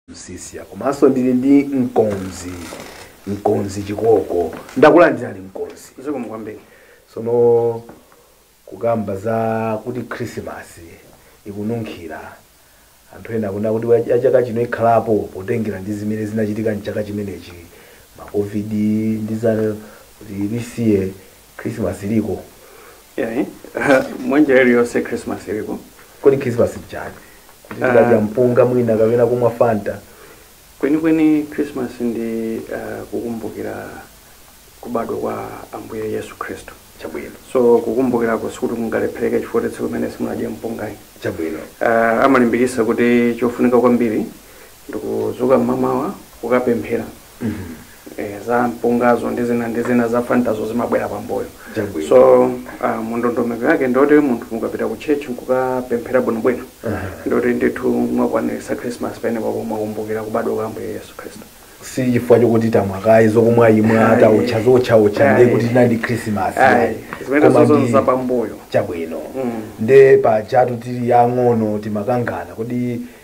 msisya komanso ndili ndi mkonzi mkonzi chikoko ndakulandirani mkonzi zikomo kwambiri tsono kukamba za kuti khrisimasi ikununkhira anthu ena akuna kuti wa- ya chaka chino ikhalapo potengera ndi zimene zinachitika mchaka chimenechi makovidi ndi zina kuti lisiye Khrisimasi iliko. Yayi, mwanjira iliyonse khrisimasi iliko. Kodi khrisimasi nchani? Kuti tikadya mpunga mwina kapena kumwa fanta? Kwenikweni khrisimasi ndi kukumbukira kubadwa kwa Ambuye Yesu Khristu. Chabwino. So kukumbukirako sikuti mungalephereke chifukwa cha tsiku limene simunadye mpunga ayi. Chabwino. Amalimbikitsa kuti chofunika kwambiri ndikudzuka mmamawa kukapemphera eh, za mpungazo ndi zina ndi zina za fantazo zimabwera pambuyo Chabwino. so uh, mundondomeko yake ndi yoti munthu ukapita ku church nkukapemphera bwinobwino ndiye kuti ndithu mwakwaniritsa christmas penepapo mwakumbukira kubadwa kwa ambuye yesu khristu si chifukwa chokuti tamwa kaya zokumwaimwa Ayi. taotcha zootchaootcha ndiye Ayi. kuti tinali christmas Ayi, zimene Koma zonse ndi- za pambuyo. chabwino Mm. nde pajatu tili ang'ono timakangana kodi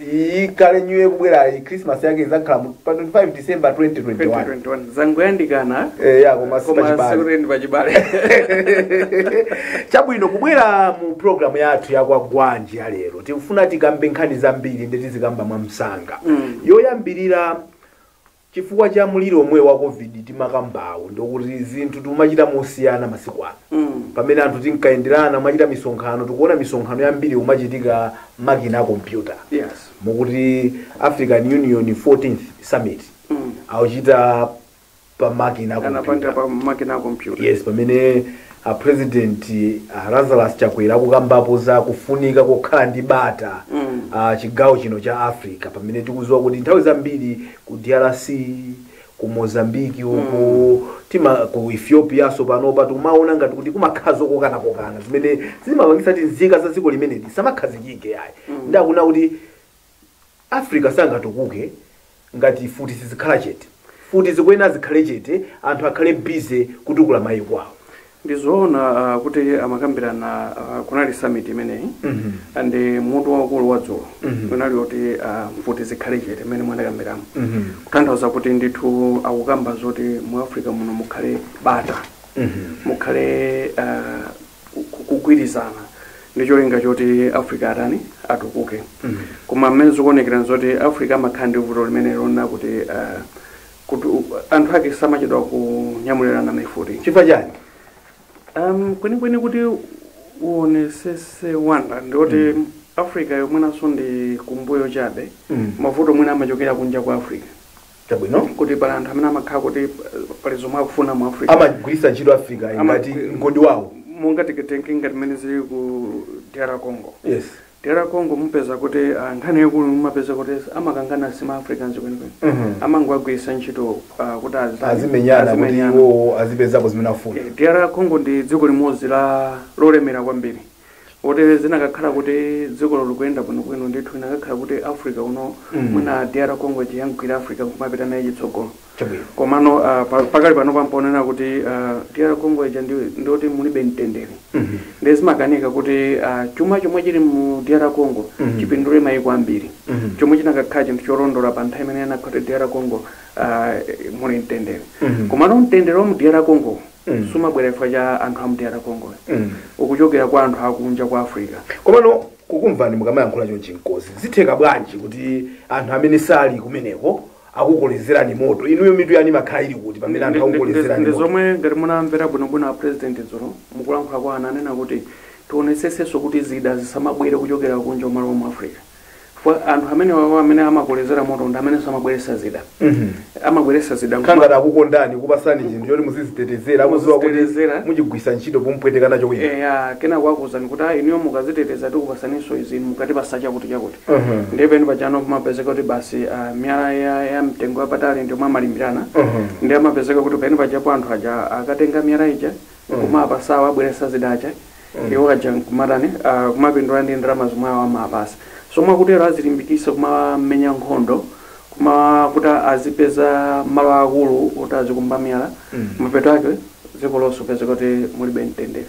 Iyi kale New Year ikubwerayi, Christmas yake idzakhala mu- pa 25 December 2021. 2021 zangoyandikana Eh, ya, koma si koma pachibale. sikuti ndi pachibale chabwino kubwera mu programu yathu ya Kwagwanji ya lero tikufuna tikambe nkhani zambiri nde tizikamba mwamsanga Mm. yoyambirira Chifukwa cha mliri omwe wa Covid timakambawu ndi yakuti zinthu tikumachita mosiyana masiku ano. Pamene anthu tinkayenderana kumachita misonkhano, tikuona misonkhano yambiri ikumachitika makina a kompyuta. Yes. Mukuti African Union 14th Summit akuchita pa makina a Anapanga kompyuta. pa makina a kompyuta. Yes, pamene A president a Lazarus Chakwera akukambapo za kufunika kokhala ndi bata m'chigawo chino cha Africa pamene tikuziwa kuti nthawi zambiri ku drc ku Mozambique uku tima ku Ethiopianso panopa tikumawona ngati kuti kumakhala zokokanakokana zimene zimapangitsa kuti nzika za dziko limenelo zisamakhazikike ayi nde akuna kuti Africa sangatukuke ngati mfuti sizikhala chete. Mfuti zikuyenera zikhale chete anthu akhale busy kutukula maiko awo. Ndi zoona kuti amakambirana kunali summit imeneyi and mutu waukulu wa dzulo unali woti mfuti zikhale chete mmene mwandikambiramo kutanthauza kuti ndithu akukamba zoti mu Africa muno mukhale bata, mukhale kugwirizana ndi cholinga choti africa atani atukuke koma mmene zikuonekera nzoti africa amakhala ndi vuto limene lonena kuti ah, kuti u- anthu ake samachedwa kunyamulirana mifuti chifukwa chani um, kwenikweni kuti uonesese wanga ndioti africa yomweinso ndi kumbuyo chabe mavuto mwina amachokera kunja kwa africa Chabwino kuti pali anthu amene amakhala kuti pa- pali zomwe akufuna mu Africa. amagwiritsa ntchito africa Ama- ngati mgodi wawo Monga titatenga ngati mmene zili ku DR Congo. yes DR Congo mupeza kuti ah, nkhani yakulu mumapeza kuti amakangana sima Africans kwenikweni. Mhm. Amangowagwiritsa ntchito ah, kuti azi- azimenyana kuti azimenyana. iwowo azipezapo zimene akufuna Eh, DR Congo ndi dziko limodzi lolemera kwambiri. oti zinakakhala kuti dzikolo likuyenda bwinobwino ndithu inakakhala kuti africa uno Mm. mwina dr congo ikanaigwira africa nkumapita naye chitsogolo chabwino komano ah, pa- pakali pano pakuoneka kuti ah, dr congo ija ndi- ndiyoti mulibe mtendere Mhm. ndi zimakanika kuti ah, chuma chomwe chili mu dr congo Mhm. chipindule mayiko ambiri Mhm. chomwe chinakakhala chinthu cholondola pa nthawi imene anakhala kuti dr congo ah, muli mtendere Mhm. komano mtendere wa mu dr congo mm. sumabwera chifukwa cha anthu a mdr congo mm. ukuchokera kwa anthu akunja kwa africa komano kukumvani mukamayankhula chonchi mkozi zitheka bwanji kuti anthu amene sali kumeneko akukolezerani moto inuyo mitu yanu imakhala ili kuti pamene anthu akukolezerani moto zomwe ngati munamvera bwinobwino a president dzulo mukulankhula kwawo ananena kuti tionetsesenso kuti zida zisamabwere kuchokera kunja kumalowa mu africa chifukwa anthu amenewawo amene amakolezera moto ndi amenenso amabweretsa zida amabweretsa zida nkumakhala ngati akukondani kupasani zinthu choti muzizitetezera akudziwa kuti Muzizitetezera. muchigwiritsa ntchito pomupweteka nacho wina eya kenako akuuzani kuti ayi inuyo mukaziteteza tikupatsaninso izi mukatipatsa chakuti chakuti Mhm. ndiye penipake apo pamapezeka kuti basi ah, miyala ya, ya mtengo wapatali ndiomwe amalimbirana Mhm. ndiye amapezeka kuti penipake apo anthu aja akatenga miyala ija nkumawapatsa obweretsa zida aja iwo aja nkumatani ah, kumapindula ndi ndalama zomwe awo amawapatsa so mwakutero azilimbikitsa kumamenya nkhondo komanso kuti azipeza malo akulu kuti azikumba miyala mapeto ake dziko lonse upeze kuti mulibe mtendere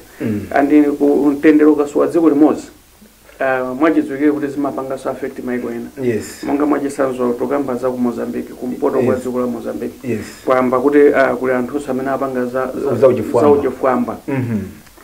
and ku- mtendere ukasowa dziko limodzi uh, mwachidziwikire kuti zimapanganso affect maiko ena yes monga mwachitsanzo titakamba za ku mozambique kumpoto kwa Yes. dziko la mozambique yes kwayamba kuti uh, kuli anthunso amene apanga za, za, Za uchifwamba. za uchifwamba Mhm.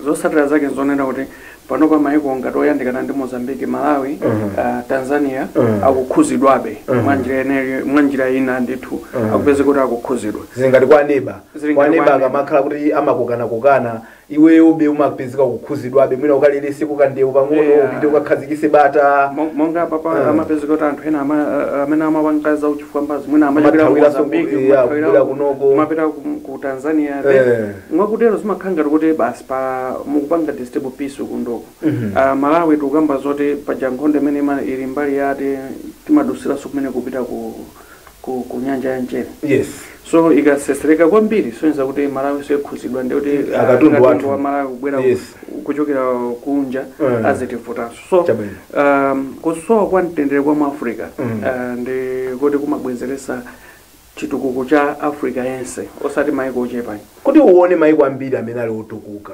zotsatira zake nzonena kuti panopa maiko ngati oyandikana ndi mozambique malawi Mhm. uh, tanzania Mhm. akukhuzidwabe Mhm. mwa njira ineyo- mwa njira ina ndithu Mhm. upeze kuti akukhuzidwa zili ngati kwa neba Zili kwa ngati neba kwa neba. akamakhala kuti amakokanakokana iweyobe umapezeka ukukhudzidwabe mwina ukaleletseko kandewu pang'ono Yeah. upite ukakhazikise bata Mo- monga apapa Ah. amapezeka kuti anthu ena ama- a- amene amapanga za uchifwamba zi mwina amachokera ku Amathawiranso ku- Mozambique, yeah, amathawira kubwera ku- kunoko. kumapita ku ku Tanzania Eh. then mwakutero zimakhala ngati kuti basi mukupanga disturb peace kunoko Mhm. Ah, Malawi tikukamba zoti paja nkhondo imene ima- ili mbali yati timadutsiranso kumene kupita ku ku, ku nyanja ya mchere yes so ikatsetsereka kwambiri kusonyeza kuti malawi nsoyi akhudzidwa ndikuti Katundu wathu. wa malawi kubwera Yes. kuchokera kunja Mm. azitivutanso so Chabwino. um, kusowa kwa mtendere kwa mu africa Mm. uh, ndi kuti kumabwezeretsa chitukuko cha africa yense osati maiko ochepa ayi kuti uone maiko ambiri amene ali otukuka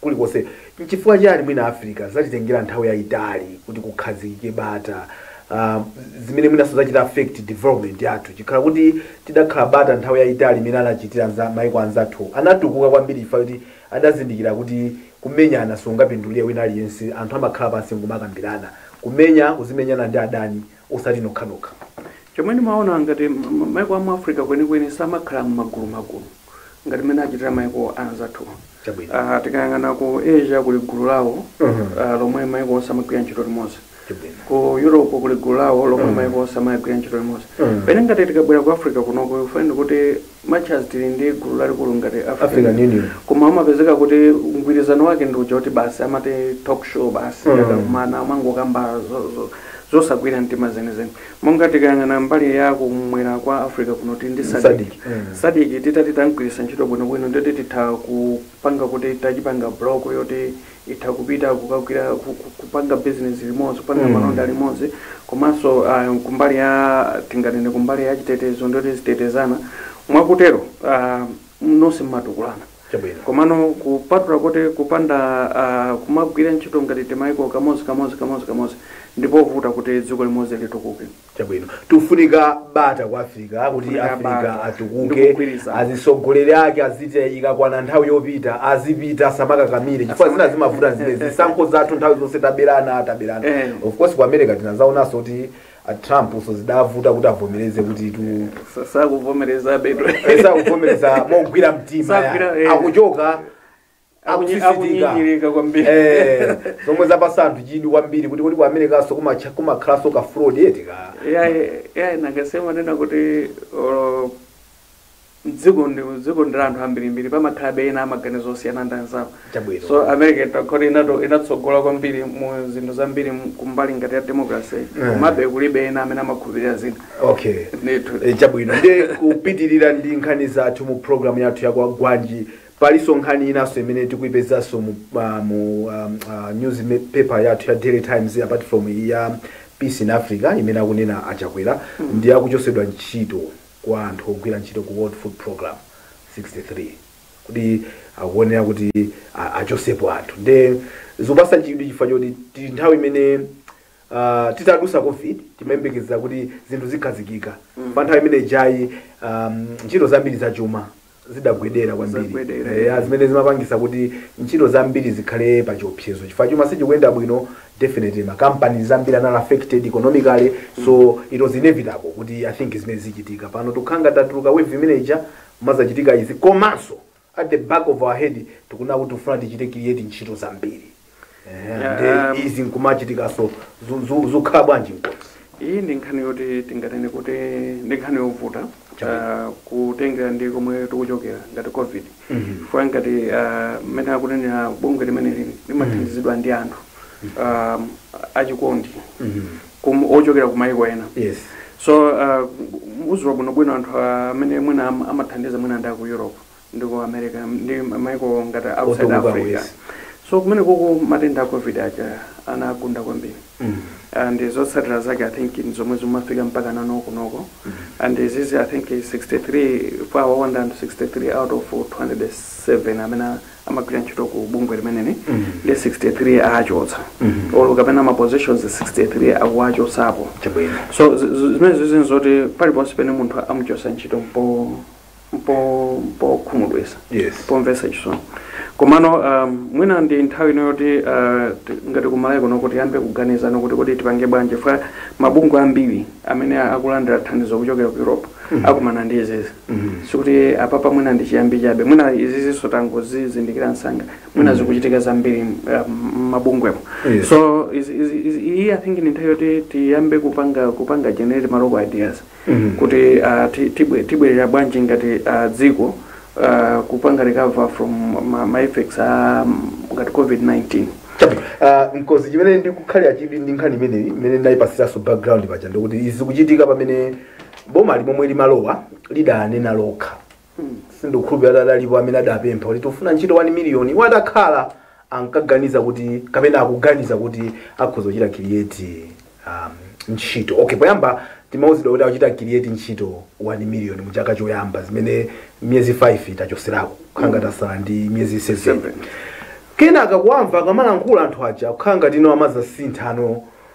kulikonse. Chifukwa chiyani mwina Africa zatitengera nthawi yaitali kuti kukhazikike bata, zimene mwinanso zachita affect development yathu? Chikhala kuti tidakhala bata nthawi yaitali imene anachitira mayiko anzathuwo, anatukuka kwambiri chifukwa choti adazindikira kuti kumenyana sikungapindulire wina aliyense. Anthu amakhala pansi n'kumakambirana. Kumenya uzimenyana ndi adani osati nokhanokha. Chomwe ndimaona ngati maiko a mu Africa kwenikweni samakhala m'magulumagulu ngati mmene achitira maiko anzathuwa. Tikayang'ana ku Asia kuli gulu lawo lomwe maiko onse amagwira ntchito limodzi. Ku Europe kuli gulu lawo lomwe maiko onse amagwira ntchito limodzi. Pamene ngati tikabwera ku Africa kunoko you find kuti Much as tili ndi gulu lalikulu ngati African African Union. Union. Koma amapezeka kuti mgwirizano wake ndi uja kuti basi amati talk show basi Mm. akakumana amangokamba zo- zo- zosagwira mtima zenizeni. Monga tikayang'ana mbali ya kumwera kwa Africa kuno tili ndi SADC. SADC. Mm. SADC titati tamgwiritsa ntchito bwinobwino ndiyoti titha kupanga kuti tachipanga block yoti itha kupita kukagwira ku- ku- kupanga business limodzi kupanga Mm. malonda limodzi komanso ah, kumbali ya tinganene kumbali ya chitetezo ndiyoti tizitetezana mwakutero ah, nonse mmatukulana chabwino komano kupatula kuti kupanda ah, kumagwira ntchito ngati timaiko kamodzi kamodzi kamodzi kamodzi ndi povuta kuti dziko limodzi litukuke chabwino pakufunika bata ku africa kuti Pakufunika africa bata. atukuke Ndikugwirizana. azitsogoleri ake aziti ikakwana nthawi yopita azipita asamakakamire chifukwa zina zimavuta zina zisankho zathu nthawi zonse taberana taberana Eh. of course ku america tinazaonanso kuti a trumpnso zidavuta kuti avomereze kuti tu Sa- sakuvomereza beto esa kuvomereza mogwira mtima Sagwira, yani. eh. akuchoka akuchita akunyinyirika kwambiri Eh, zomwe zapatsa anthu chidwi kwambiri kuti kuti ku americanso kumacha- kumakhalanso ka fraud eti ka yayi yayi nanga si amanena kuti olo mdziko ndi dziko ndi la anthu ambirimbiri pamakhalabe ena amaganizo osiyana ndi anzawo chabwino so america itha kukhala kuti inato inatsogola kwambiri mu zinthu zambiri mu- kumbali ngati ya democracy Mm. komabe aliko ena amene amakhulupirira zinthu okay ndithu Eh, chabwino tikupitirira ndi nkhani zathu mu programu yathu ya kwagwanji Palinso nkhani inanso imene tikuipezanso mu mu news paper yathu ya daily times apart from iyi ya peace in africa imene akunena a chakwera ndi yakuchosedwa ntchito kwa anthu ogwira ntchito ku world food program 63 kuti akuonera kuti a- achosepo anthu nde zikupasa chidwi chifukwa choti tili nthawi imene uh, titadusa covid timayembekezera kuti zinthu zikhazikika pa nthawi imene ijayi um, ntchito zambiri zachuma zidagwedera kwambiri, eya zimene zimapangisa kuti ntchito zambiri zikhale pa chiopsezo chifukwa chuma sichikuyenda bwino definitely ma companies ambiri anali affected economically so it was inevitable kuti i think zimene zichitika pano tikukhala ngati tatuluka wave imene ija mazachitika izi komanso at the back of our head tikunena kuti tikufuna tichite create ntchito zambiri Ndi izi nkumachitikaso zu- zu- zukhala bwanji mkozi iyi ndi nkhani yoti tinganene kuti ndi nkhani yovuta ah, kutengera ndi komwe tikuchokera ngati covid chifukwa ngati ah, mmene akunenera bungwe limeneli limathandizidwa ndi anthu ah, achikondi kum- ochokera ku mayiko ena yes so uh, uziwa bwinobwino anthu amene mwina am- amathandiza mwina ndi aku europe ndi ku America ndi maiko ngati a outside Otukuka Africa. kwezi. So kumenekoko matenda a COVID aja anagunda kwambiri. Mm. and zotsatira zake i think ndi zomwe zafika mpakana kunoko and izizi i think 63 for our 163 out of 207 amene amagwira ntchito ku bungwe limeneli Mhm. ndi 63 achotsa Mhm. olo kapena ma positions 63 akuwachotsapo Chabwino. so zi- zi- zimenezizi nzoti paliponse pene munthu amuchotsa ntchito mpo mpo mpokhumudwisa Yes. pomvesa chisoni komano um, mwina ndi nthawi ino yoti uh, ti- ngati ku malawi kunoko tiyambe kuganizano kuti kodi tipange bwanji chifukwa mabungwe ambiri amene a- akulandira thandizo kuchokera ku europe akumana ndi izizi sikuti apapa mwina ndi chiyambi chabe mwina izizinso tangozizindikira msanga mwina zikuchitika zambiri uh, mabungwemo Yes. so is- is- is- iyi i think ndi nthawi yoti tiyambe kupanga kupanga generate malocal ideas kuti ah, ti- tibwe- tibwerera bwanji ngati ah, dziko ah, kupanga recover from ma, ma effects a mm, ngati covid-19 Ah, mkozi chimene ndikukhalira chidwi ndi nkhani imeneyi imene ndayipasiranso background paja ndikuti izi zikuchitika pamene boma limomwe limalowa lidanena lokha sindikukhulupirira kuti adalipo amene adapempha kuti tikufuna ntchito 1 miliyoni iwo atakhala ankaganiza kuti kapena akuganiza kuti akhoza kuchita create um, ntchito okay poyamba timauzidwa kuti akuchita create ntchito 1 miliyoni mu chaka choyamba zimene miyezi 5 tachoserako kukhala ngati tasala ndi miyezi 7 Seven. kenaka kuwamva akamalankhula anthu aja kukhala ngati ino amazasinthano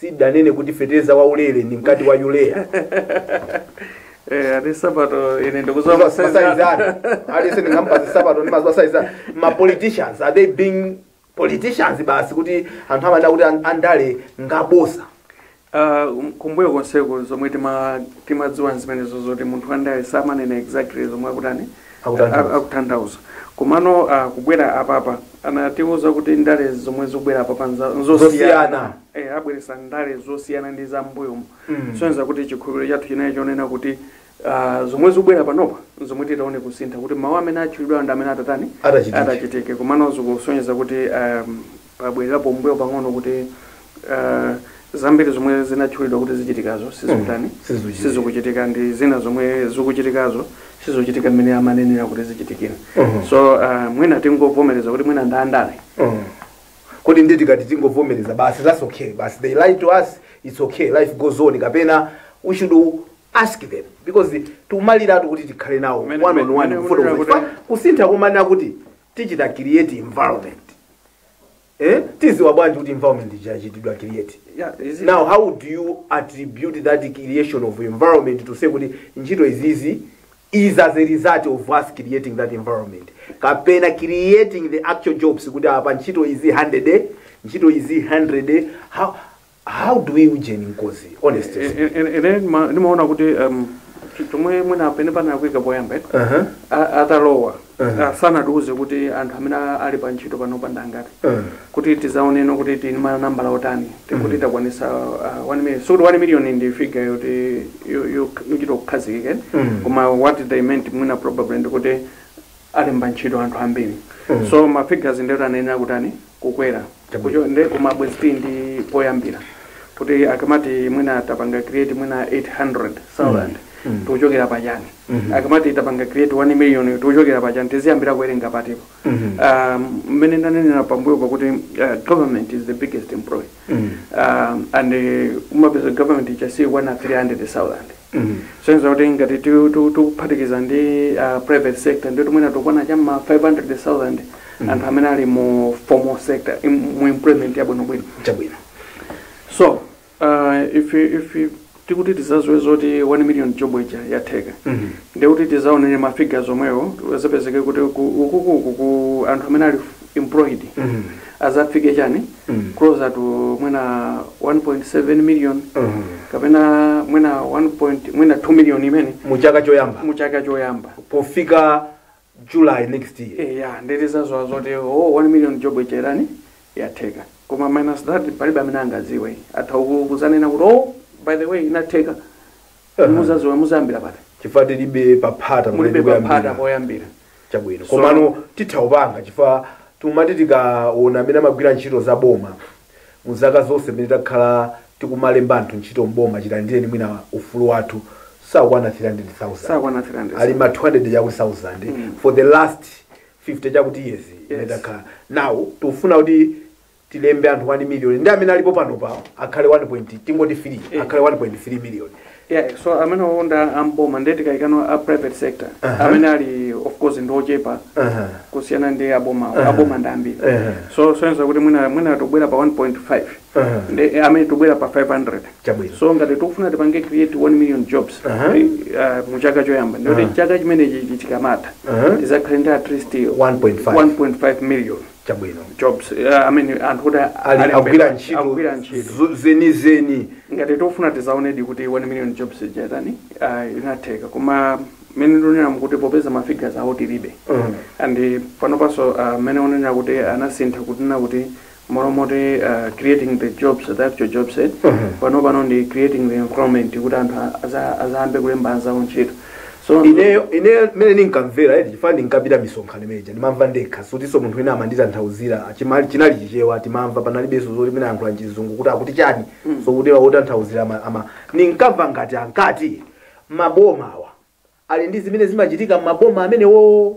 Sidanene kuti feteleza wa ulele ndi mkati wa urea. Eh, ati sapato ine sindikudziwa Masayizi masaizi anu. anu. Aliyense ndingamupatsa sapato ndi masayizi anu. Ma politicians are they being politicians basi kuti anthu amanena kuti an- andale ngabosa. Ah, um, kumbuyo konseko zomwe tima- timadziwa zimenezo zoti munthu wandale samanena exactly zomwe akutani akutanthauza. akutanthauza komano ah, kubwera apapa anatiuza kuti ndale zomwe zikubwera apapa nza- Zosiyana. nzosiyana eh, abweresa ndale zosiyana ndi za mbuyomo Mm. kusonyeza kuti chikhulupiriro chathu chinali chonena kuti ah, zomwe zikubwera panopa zomwe titaone kusintha kuti mawu amene atchulidwa ndi amene atatani Atachitike. atachitike komano zikusonyeza kuti um, Pabwererapo mmbuyo pang'ono kuti uh, zambiri zomwe zinatchulidwa kuti zichitikazo sizikutani mm, sizikuchitika. sizikuchitika ndi zina zomwe zikuchitikazo sizikuchitika mmene amanenera kuti zichitikira Mhm. so uh, mwina tingovomereza kuti mwina ndandale Mm. kodi nde tikati tingovomereza basi that's okay basi they lie to us it's okay life goes on kapena we should ask them because timaliratu kuti tikhale nawo Mene- one on one mene- mene- kufotokoza kuti- kusintha kumanena kuti tichita create environment eh tiziwa bwanji kuti environment ija yachitidwa create Yeah, is it- now how do you attribute that creation of environment to say kuti ntchito izizi is as a result of us creating that environment kapena creating the actual jobs kuti apa ntchito izi 100 ntchito izi 100 how How do we ujeni nkozi honest Eh, eh, eh, ine ndima- ndimaona kuti um, ch- chomwe mwina pene panalakwika poyamba eh, Aha. a- atalowa Mhm. ah, sanatiuze kuti anthu amene a- ali pa ntchito panopa ndi angati Mhm. kuti tizaone no kuti ndi manambala otani tikuti takwanisa uh, 1 million sikuti 1 million ndi figure yoti yo- yo- yochita kukhazikika eh? Mhm. koma what they meant mwina probably ndikuti alemba ntchito anthu ambiri mm. so ma figures nde atayenera kutani kukwera kucho nde koma bwezi tili ndi poyambira kuti akamati mwina tapanga create mwina 800,000 Mm. tikuchokera pachani akamati tapanga create 1 million tikuchokera pachani tiziyambira kuwerenga patiko Mhm. um, mmene ndanenera pambuyopa kuti uh, government is the biggest employer Mm. um, and uh, umapeza government ija siyikukwana 300,000 Kusonyeza kuti ngati tikuphatikiza ndi private sector ndiye kuti mwina tikukwana cha m'ma 500,000 anthu amene ali mu formal sector mu employment yabwinobwino. Chabwino. So, uh, if, if tikuti tizaziwe zoti 1 million jobs ija yatheka Mhm. ndikuti tizaonere ma figures omwewo azapezeke kuti ku- ukukuku ku anthu amene ali employed azafike chani closer to mwina 1.7 million kapena mwina 1. point- mwina 2 million imeneyo mu chaka choyamba mu chaka choyamba pofika july next year Eh, ya ndi tizaziwa zoti oh, 1 million job ija yatani yatheka koma minus that palibe amene angaziwe atha ku- kuzanena kuti oh, by the way inatheka Kodi muzaziwa muzayambira pati chifukwa tilibe paphata pamene mulibe paphata poyambira. poyambira chabwino So- komano titha kupanga chifukwa tikumati tikaona amene amagwira ntchito za boma mu zaka zonse pamene takhala tikumalemba anthu ntchito mboma chilandireni mwina ufulu wathu sakwana 300,000 sakwana 300 ali ma 200 chakuti 1000 for the last 50 chakuti years imene Yes. takhala now tikufuna kuti tilembe anthu 1 million ndi amene alipo panopa akhale 1 point tingoti 3 Eh. akhale 1.3 million yeah so amene awo nda mboma ndiye tikaikano a private sector Aha. amene ali of course ndi ochepa Aha. kusiyana ndi aboma Aha. aboma ndi ambiri Aha. so zoyenera kuti mwina mwina tobwera pa 1.5 Aha. ndi eh, amene tobwera pa 500 Chabwino. so ngati tikufuna tipange create 1 million jobs Aha. eh, ah, mu chaka choyamba ndikuti Aha. chaka chimenechi chikamatha Aha. tizakhale ndi at least 1.5. 1.5 million Chabwino. jobs eh, I mean, anthu kuti a- Ali alembe- agwira ntchito agwira ntchito zo- zenizeni. ngati tikufuna tizaonedi kuti 1 million jobs ija yatani uh, inatheka koma mmene ndionera kuti popeza mafigures awo tilibe Mm. and panopanso uh, mmene onenera kuti anasintha kunena kuti mmalo moti uh, creating the jobs the actual jobs eh, Mhm. panopano ndi creating the employment kuti anthu a- aza- azayambe kulemba anzawo ntchito so ineyo ineyo mmene ndinkamvera eti chifukwa ndinkapita misonkhano imeneja ndimamva ndekha sikutinso munthu wina amanditanthauzira chimali chinali chichewa timamva panalibenso zoti mwina amayankhula mchizungu kuti akuti chani so kuti otanthauzira ama- ama ndinkamva ngati ankati mabomawa ali ndi zimene zimachitika mmaboma amenewo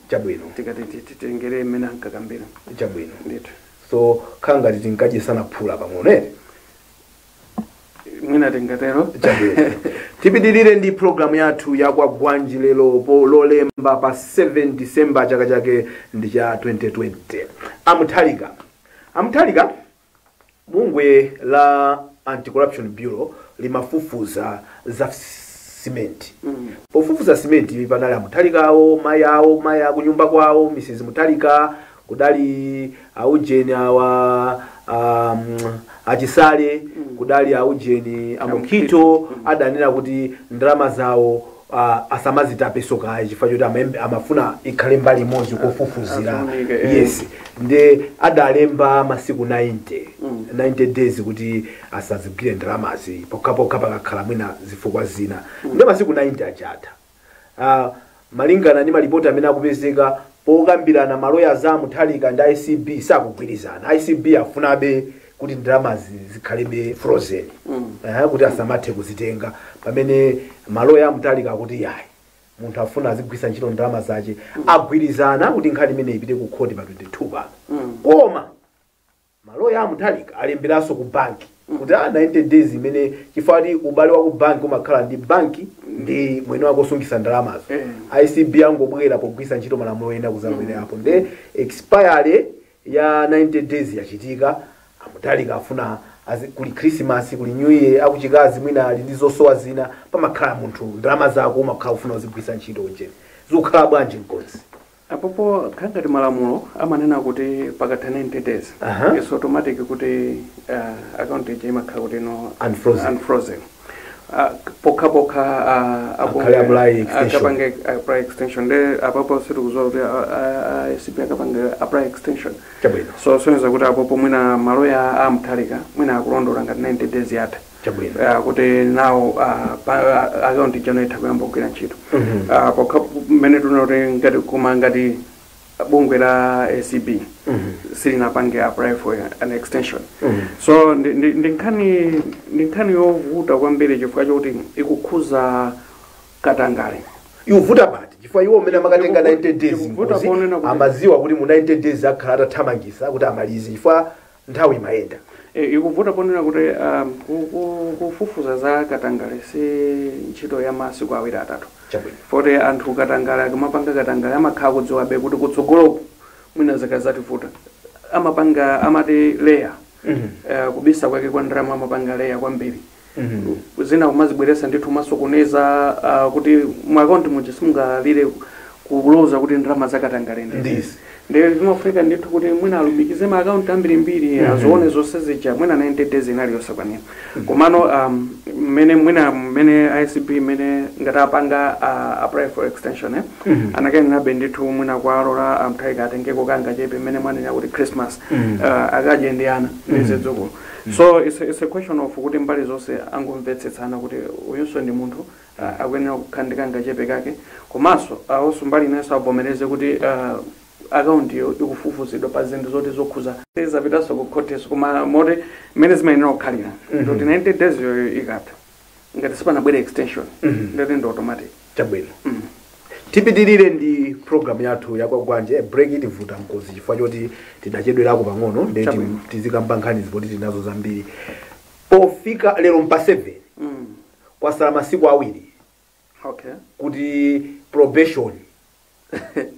Chabwino. tikati ti- titengere mmene ankakambira Chabwino. ndithu Zokhala ngati tinkadyesana phula pang'ono eti. mwina tingatero Chabwino. Tipitirire ndi programu yathu ya Kwagwanji lero Lolemba pa 7 December chaka chake ndi cha 2020. A Mutharika. A Mutharika Bungwe la Anti-Corruption Bureau limafufuza za cement. Pofufuza cement panali a Mutharika awo, mayi awo, mayi akunyumba kwawo, Mrs Mutharika, kudali a ujeni awa um, a Chisale, kudali a ujeni a Mukhito adanena kuti ndalama zawo uh, asamazitapeso kaye chifukwa choti amaembe- amafuna ikhale mbali imodzi kofufuzira Afunika, eh. yes nde adalemba masiku 90 90 days kuti asazigwire ndalamazi pokhapokha pakakhala mwina zifukwa zina nde masiku 90 adatha Ah, malingana ndi malipoti amene akupezeka pokambirana maloya a Mutharika ndi ACB sakugwirizana ACB afunabe kuti ndalamazi zikhalebe frozen ehe, kuti asamathe kuzitenga pamene maloya a Mutharika akuti iyayi munthu afuna azigwiritsa ntchito ndalama zace agwirizana kuti nkhani imene ipite ku khoti pa 22 pano koma maloya a Mutharika alemberanso ku banki kuti a 90 days imene chifukwa kuti ubale wa ku banki umakhala ndi banki ndi mwini wake osungitsa ndalamazo ACB angobwera pogwiritsa ntchito malamulo ena kuzabwerapo nde expire ya 90 days yachitika, a Mutharika afuna azi, kuli Christmas, kuli New Year, akuchikazi mwina ali ndi zosowa zina, pamakhala munthu ndalama zako umakhala ufuna uzigwiritsa ntchito ujeni, zikukhala bwanji mkonzi? apopo kukhala ngati malamulo amanena kuti pakatha 90 days Aha. it's automatic kuti uh, account ija imakhala kuti no Unfrozen. unfrozen. Ah, pokha pokha ah, apo- Akhale apply extension. akapange apply extension nde apapo sitikuziwa kuti ah, ah, ah, ACB akapanga apply extension chabwino so zosonyeza kuti apopo mwina maloya a Mutharika mwina akulondola ngati 90 days yatha chabwino Ah, kuti nawo ah, pa- ah, akaunti ija no itha kuyamba kugwira ntchito Mhm. Ah, pokha mmene ndinenera kuti ngati koma ngati bungwe la ACB silinapange apply for an extension so ndi- ndi ndi nkhani ndi nkhani yovuta kwambiri chifukwa chokuti ikukhuza katangale ivuta pati chifukwa iwo amene amakatenga 90 days Ikuvuta mkonzi, ponena kuti- amaziwa kuti mu 90 days akhala atathamangisa kuti amalize chifukwa Nthawi imayenda. Ikuvuta ponena kuti kufufuza za katangale si ntchito ya masiku awiri atatu. Chabwino. Poti anthu katangale akamapanga katangale amakhala akudziwabe kuti kutsogoloku mwina zikadzativuta. Amapanga amati layer. Kubisa kwake kwa ndalama amapanga layer kwambiri. zina kumazibweretsa ndithu kumasokoneza a kuti mu account muja simungathe ku- kuloza kuti ndalama zakatangale ndi Ndizi. izi. ndiye zimafunika ndithu kuti mwina alumikize ma account ambirimbiri azione zonse zija mwina 90 days inali yosakwanira komano um, mmene mwina mmene ACB mmene ngati sanapange uh, apply for extension eh? anakayenerabe ndithu mwina kuwalola a Mutharika atengeko kangachepe mmene mwanena kuti christmas uh, akadye ndi ana ndi zidzukulu so it's a, it's a question of kuti mbali zonse angomvetsetsana kuti uyunso ndi munthu uh, akuyenera kukhala ndi kangachepe kake komanso uh, onso mbali inenso avomereze kuti uh, akaunti iyo ikufufuzidwa pa zinthu zoti zokhuza zapitanso ku khotiso koma poti mmene zimayenera kukhalira ndoti 90 days yo ikatha ngati sipanabwere extension Mhm. ndati ndi automatic chabwino Mm. tipitirire ndi programu yathu ya Kwagwanji break itivuta Ngozi chifukwa choti tidachedwerako pang'ono nde Chabwino. tizikamba nkhani zapoti tinazo zambiri pofika lero mpa 7 Mm. kwasala masiku awiri okay kuti probation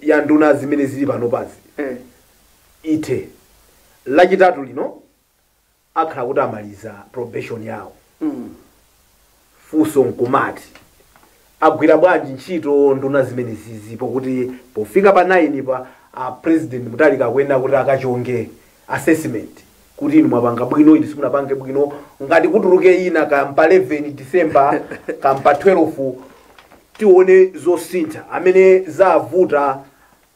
ya nduna zimene zili panopazi eh. ithe lachitatu lino akhala kuti amaliza probation yawo funso nkumati agwira bwanji ntchito nduna zimenezizi pokuti pofika pa 9 pa a president Mutharika akuyenera kuti akachonge assessment kuti inu mwapanga bwino inu simunapange bwino ngati kutuluke ina kaya mpa 11 december kaya mpa 12 tione zosintha amene zavuta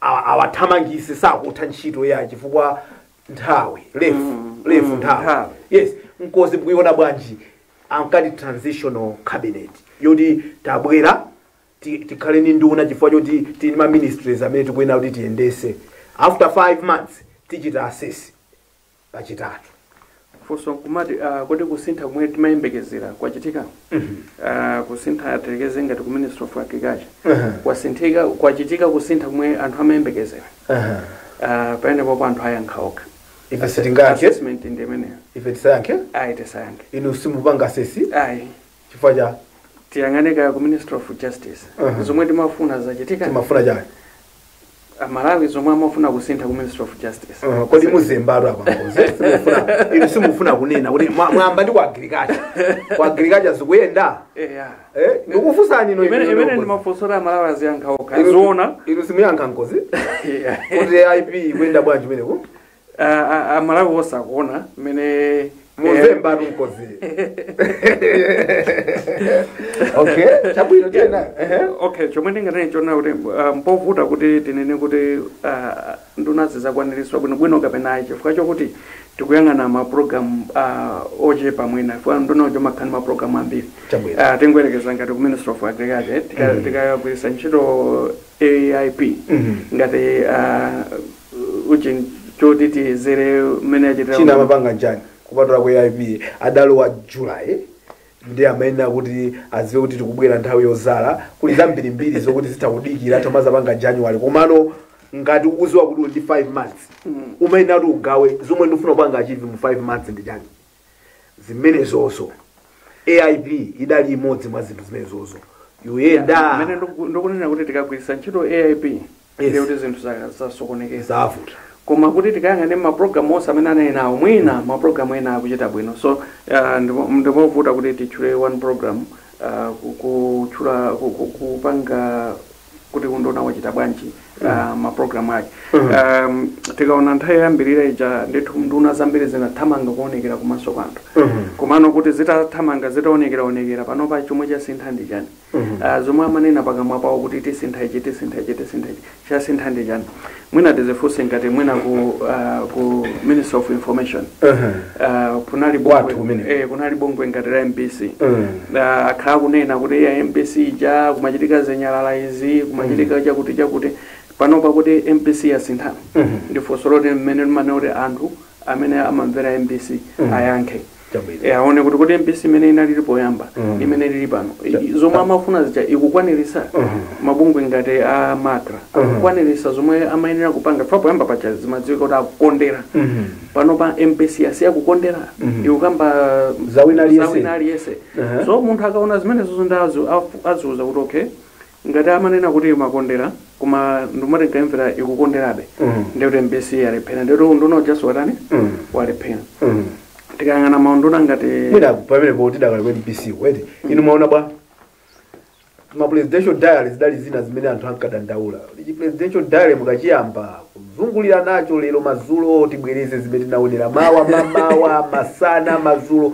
a- awathamangise sakutha ntchito ya chifukwa nthawi lefu Mm, lefu mm, nthawi nthawi. yes Ngozi mukuiona bwanji ankati transitional cabinet yoti tabwera ti- tikhale ndi nduna chifukwa choti tili ndi ma ministries amene tikuyenera kuti tiyendese after five months tichita assess pachitatu funso kumati ah, kodi kusintha kumene timayembekezera kwachitika Ah, kusintha tiyerekeze ngati ku ministry of agriculture Mhm. kwachitika kwachitika kusintha kumwe anthu amayembekezera Aha. Ah, pamenepopo anthu ayankha okha Ife sitingayankhe. assessment ndi imeneyo ife tisayankhe ayi tisayankhe inu simupanga assess ayi chifukwa chani tiyang'ane kaya ku ministry of justice Mhm. zomwe timafuna zachitika timafuna chani amalawi zomwe amafuna kusintha ku ministry of justice Aha, kodi mukuzembatu apa ngozi simufuna inu simufuna kunena kuti mwa- mwayamba ndi ku agriculture ku agriculture zikuyenda eya Eh, ndikufunsani inu imene imene ndi mafunso a Amalawi aziyankha okha aziona inu simuyankha ngozi kuti aip ikuyenda bwanji imeneyi A- a- amalawi onse akuona mmene mukuzembatu ngozi okay chabwino tiyeni ehe okay chomwe ndinganene chona kuti ah, mpovuta kuti tinene kuti ah, ndunazi zakwaniritsa bwinobwino kapena ayi chifukwa chokuti tikuyang'ana mapulogalamu uh, ochepa mwina chifukwa nduna ija imakhala ndi mapulogalamu ambiri Chabwino. uh, tingoyerekeza ngati ku ministry of agriculture tika- tikagwiritsa ntchito aip ngati uh, chinthu choti tiyezere mmene achitira china amapanga nchani kupatula ku aip adalowa july nde amayenera kuti aziwe kuti tikubwera nthawi yozala kuli zambirimbiri zokuti zitha kudikira nkumazapanga january komano ngati ukuziwa kuti uli ndi 5 months umayenera kuti ugawe zomwe ndikufuna kupanga achieve mu 5 months ndi chani zimenezozo aip idali imodzi mwa zinthu zimenezozo ikuyenda Mene ndiku- ndikunena kuti tikagwiritsa ntchito aip ndiye Yes. kuti zinthu za- zasokonekera zavuta koma kuti tikayang'ane mapulogalamu onse amene anali nawo mwina mapulogalamu ena akuchita bwino so uh, ndipo- ndipovuta kuti titchule one program uh, ku- kutchula ku- ku- kupanga kuti unduna wachita bwanji uh, mapulogalamu ake um, tikaona nthawi yoyambirira ija ndithu nduna zambiri zinathamanga kuonekera kumaso kwa anthu komano kuti zitathamanga zitaonekeraonekera panopa chomwe chasintha ndi chani Ah, zomwe amanena pakamwa pawo kuti tisintha ichi tisintha ichi tisintha ichi chasintha ndi chani mwina tizifunse ngati mwina ku, ah, ku ministry of information Ah, kunali bungwe ngati la mbc Mm. Ah, akhala akunena kuti iya mbc ija kumachitika zinyalala izi kumachitika chakuti chakuti panopa kuti mbc yasintha ndifunso loti mmene imanena kuti anthu amene amamvera mbc Mm. ayankhe Chabwino. Eh, aone kuti kodi mbc imene inalili poyamba Mm. imene lili pano Cha- I- zomwe amafuna zija ikukwanirisa Mhm. mabungwe ngati a MACRA Mhm. akukwanirisa zomwe amayenera kupanga chifukwa poyamba paja zimadziwika kuti akukondera Mhm. pano pa mbc asiya kukondera Mhm. ikukamba Za wina aliyense. za wina aliyense Aha. so munthu akaona zimenezozo nde aziuza kuti okay Ngati amanena kuti imakondera koma ndimatikaimvera ikukonderabe ndiye kuti mbc yalephera ndiye kuti unduna ujanso watani walephera tikayang'ana maunduna ngati mwina pamenepo tidakali ku mbc ko eti inu mwaona bwa ma presidential diary zidali zina zimene anthu ankadandaula ichi presidential diary mukachiyamba kuzungulira nacho lero madzulo tibwereze zimene tinaonera mawa mamawa masana madzulo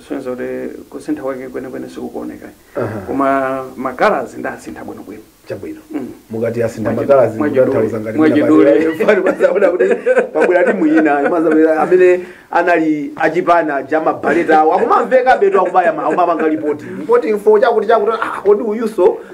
Zisonyeza kuti kusintha kwake kwenikweni sikukuoneka. Aha. Koma makalazi ndi asintha bwinobwino. chabwino Mm. mukati asintha Mwachidule. makalazi Mwachidule. kutanthauza ngati Mwachidule. mwina pali- mazaona kuti pabwera timu ina amene anali achipana ja mabaleta awo akumamveka betu akubaya ma- akumapanga lipoti lipoti info chakuti chakuti ah, kodi uyuso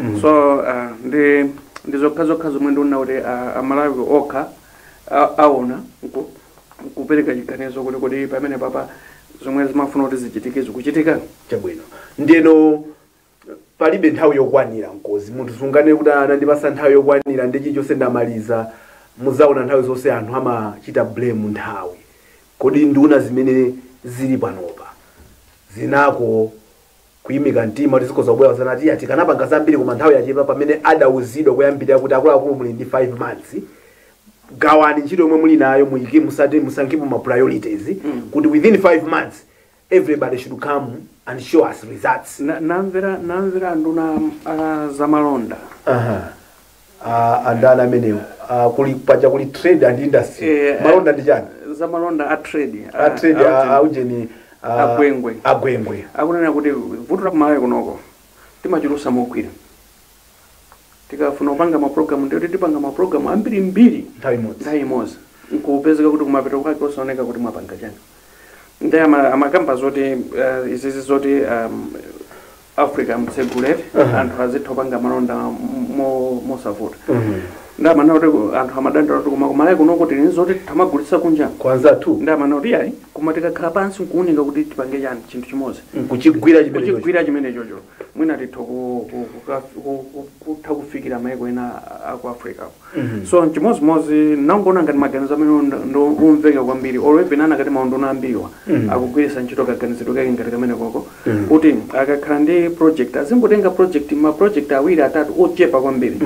mm. so uh, ndi ndi zokha zokha zomwe ndiona kuti uh, amalawi okha aona nkupereka chiganizo kuti kodi pamene papa zomwe zimafuna kuti zichitike zikuchitika chabwino ndiyeno palibe nthawi yokwanira nkozi munthu sunganene kuti anandipasa nthawi yokwanira ndi chilichonse ndamaliza muzaona nthawi zonse anthu amachita blame nthawi kodi nduna zimene zili panopa zingako Kuyimika mtima kuti zikhoza kubwera uzani ati iya tikanapanga zambiri koma nthawi yachepa pamene adauzidwa koyambirira kuti akuluakulu muli ndi 5 months gawani ntchito yomwe muli nayo muyike musa- musankhepo ma priorities kuti within 5 months everybody should come and show us results Na- namvera namvera nduna ah, zamalonda aha a- a ndani amenewo a, kuli paja kuli trade and industry Eh, malonda ndi chani za malonda a trade a trade a- a- a ujeni a- A Gwengwe. a Gwengwe akunena kuti vuto la ku Malawi kunoko timachulutsa mogwira tikafuna kupanga mapulogalamu ndiye kuti tipanga mapulogalamu ambirimbiri nthawi imodzi nthawi imodzi nkupezeka kuti kumapeto kwake osaoneka kuti mwapanga chani nde ama- amakamba zoti eh, izizi zoti um, Africa m'tseguleni anthu azitha kupanga malonda m- mo- mosavuta nde amanena kuti anthu amadandaula kuti koma ku Malawi kunoko tili ndi zoti titha kumagulitsa kunja kwa anzathu nde amanena kuti ayi koma tikakhala pansi nkuunika kuti tipange chani chinthu chimodzi nkuchigwira chimenecho kuchigwira chimenecho mwina titha ku- ku- kuka- ku- ku- kutha kufikira maiko ena a ku Africa So nchimodzimodzi ndinangoona ngati maganizo amenewo nd- ndo omveka kwambiri or even akanati maunduna ambiriwa akugwiritsa ntchito kaganizidwe kake ngati kameneko kuti akakhala ndi project azingotenga project ma project awiri atatu ochepa kwambiri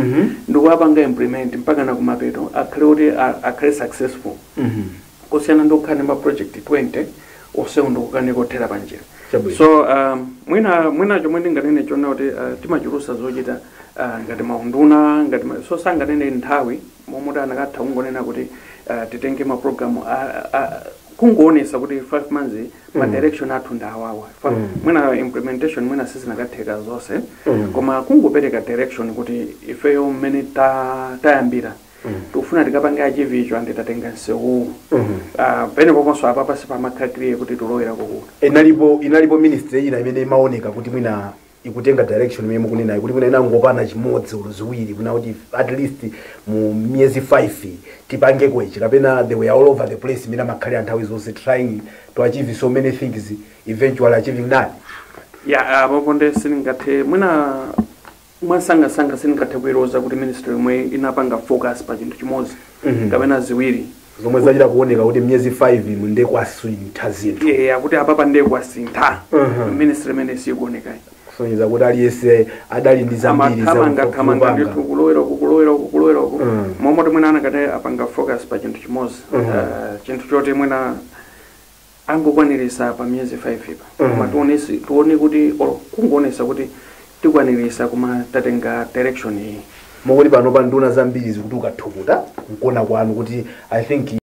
ndikuwapanga implement mpakana kumapeto akhale kuti a- akhale successful kusiyana ndi kukhala ndi ma project 20 onsewo ndikukanika kuthera panjira Chabwino. so um, mwina mwina chomwe ndinganene n'chonena kuti uh, timachulutsa zochita uh, ngati maunduna ngati ma, so sindinganene nthawi momuti anakatha kungonena kuti uh, titenge maprogramu kungoonetsa kuti 5 months ma direction athu ndi awawa Fa- Mm. mwina implementation mwina sizinakatheka zonse Mm. koma kungopereka direction kuti ifeyo mmene ta- tayambira tikufuna tikapange achieve icho and tatenga nsewuwu Ah, pamenepo penso apapa sipamakhala clear kuti tikulowera kuti inalipo inalipo ministry ina imene imaoneka kuti mwina ikutenga direction imene mukunena kuti mwina inangopanga chimodzi olo ziwiri kunena kuti at least mu miyezi 5 tipange achieve kapena they were all over the place mmene amakhalira nthawi zonse trying to achieve so many things eventually achieving none ya apopo nde sindingathe mwina Mwansangansanga sindingathe kuiloza kuti ministry yomwe inapanga focus pa chinthu chimodzi kapena ziwiri. zomwe zachita kuoneka kuti miyezi 5 ino nde kwasintha zinthu Eya kuti apapa nde kwasintha. Mhm. Ministry imene sikuonekayi. kusonyeza kuti aliyense adali ndi zambiri zoti amathamanga thamanga kupanga. ndithu kulowera uku kulowera uku kulowera uku Mm. momwe mwina akanati apanga focus pa chinthu chimodzi Mm. Eh, chinthu choti mwina angokwaniritsa pa miyezi 5 pa mm. koma tionetse tione kuti or kungoonetsa kuti tikwaniritsa koma tatenga direction iyi moti panopa nduna zambiri zikuti ukathukuta nkona kwanu kuti i think